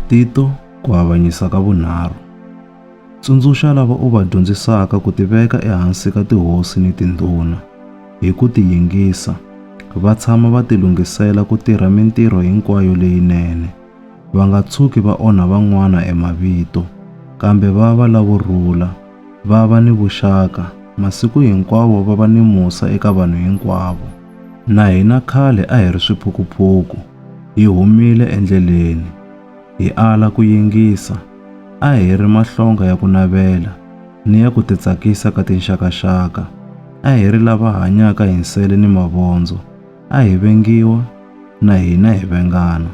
Tito, ku avanyisa ka vunharhu. Tsundzuxa lava u va dyondzisaka ku tiveka ehansi ka tihosi ni tindhuna. Hi ku tiyingisa, va tshama va tilunghisela ku tirha mintirho hinkwayo leyinene. Va nga tshuki va onha van'wana emavito, kambe va va lavo rhula, va va ni vuxaka, masiku hinkwawo va va ni musa eka vanhu hinkwavo. Na hina khale a hi ri swiphukuphuku, hi humile endleleni, hi ala ku yingisa, a hi ri mahlonga ya ku navela ni ya ku titsakisa ka tinxakaxaka, a hi ri lava hanyaka hi nsele ni mavondzo, a hi vengiwa, na hina hi vengana.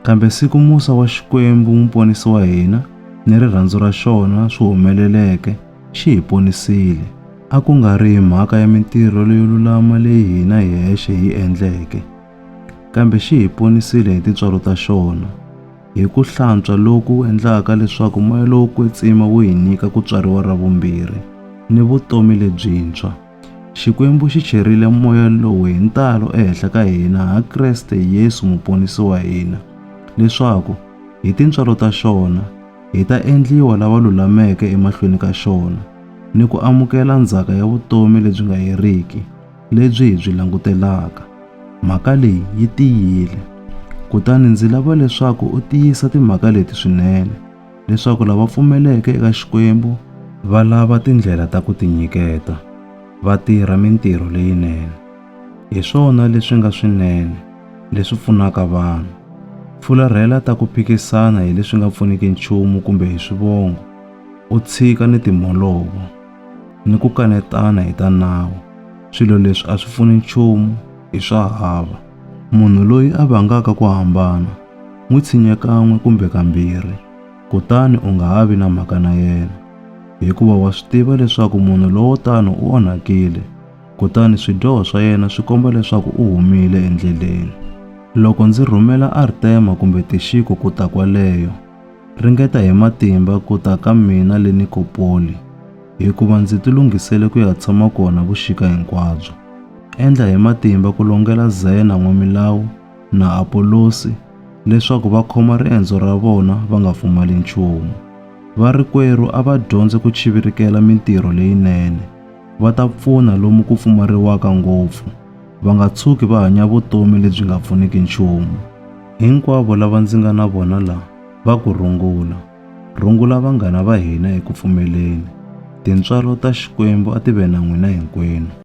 Kambe siku musa wa Xikwembu Muponisi wa hina ni rirhandzu ra xona swi humeleleke, xi hi ponisile. A ku nga ri hi mhaka ya mintirho leyo lulama leyi hina hi hexe hi yi endleke, kambe xi hi ponisile hi tintswalo ta xona, hi ku hlantswa loku endlaka leswaku moya lowo kwetsima wu hi nyika ku tswariwa ra vumbirhi ni vutomi lebyintshwa. Xikwembu xi cherile moya lowu hi ntalo ehenhla ka hina ha Kreste Yesu Muponisi wa hina, leswaku, hi tintswalo ta xona, hi ta endliwa lava lulameke emahlweni ka xona ni ku amukela ndzhaka ya vutomi lebyi nga heriki lebyi hi byi langutelaka. Mhaka leyi yi tiyile. Kutani ndzi lava leswaku u tiyisa timhaka leti swinene leswaku lava pfumeleke eka Xikwembu va lava tindlela ta ku tinyiketa, va tirha mintirho leyinene. Hi swona leswi nga swinene, leswi pfunaka vanhu. Fularhela ta ku phikisana hi leswi nga pfuniki nchumu kumbe hi swivongo, u tshika ni timholovo, ni ku kanetana hi ta nawu. Swilo leswi a swi pfuni nchumu, i swa hava. Munhu loyi a vangaka ku hambana, n'wi tshinye kan'we kumbe kambirhi, kutani u nga ha vi na mhaka na yena, hikuva wa swi tiva leswaku munhu lowo tano u onhakile. kutani swidyoho swa yena swi komba leswaku u humile endleleni. Loko ndzi rhumela Artema kumbe Tixiko ku ta kwaleyo, ringeta hi matimba ku ta ka mina le Nikopoli, hikuva ndzi tilunghisele ku ya tshama kona vuxika hinkwabyo. Endla hi matimba ku longela Zena n'wamilawu na Apolosi leswaku va khoma riendzo ra vona va nga pfumali nchumu. Varikwerhu a va dyondze ku chivirikela mintirho leyinene. va ta pfuna lomu ku pfumariwaka ngopfu, va nga tshuki va hanya vutomi lebyi nga pfuniki nchumu. Hinkwavo lava ndzi nga na vona la va ku rungula. Rungula vanghana va hina eku pfumeleni. Tintswalo ta Xikwembu a ti ve na n'wina hinkwenu.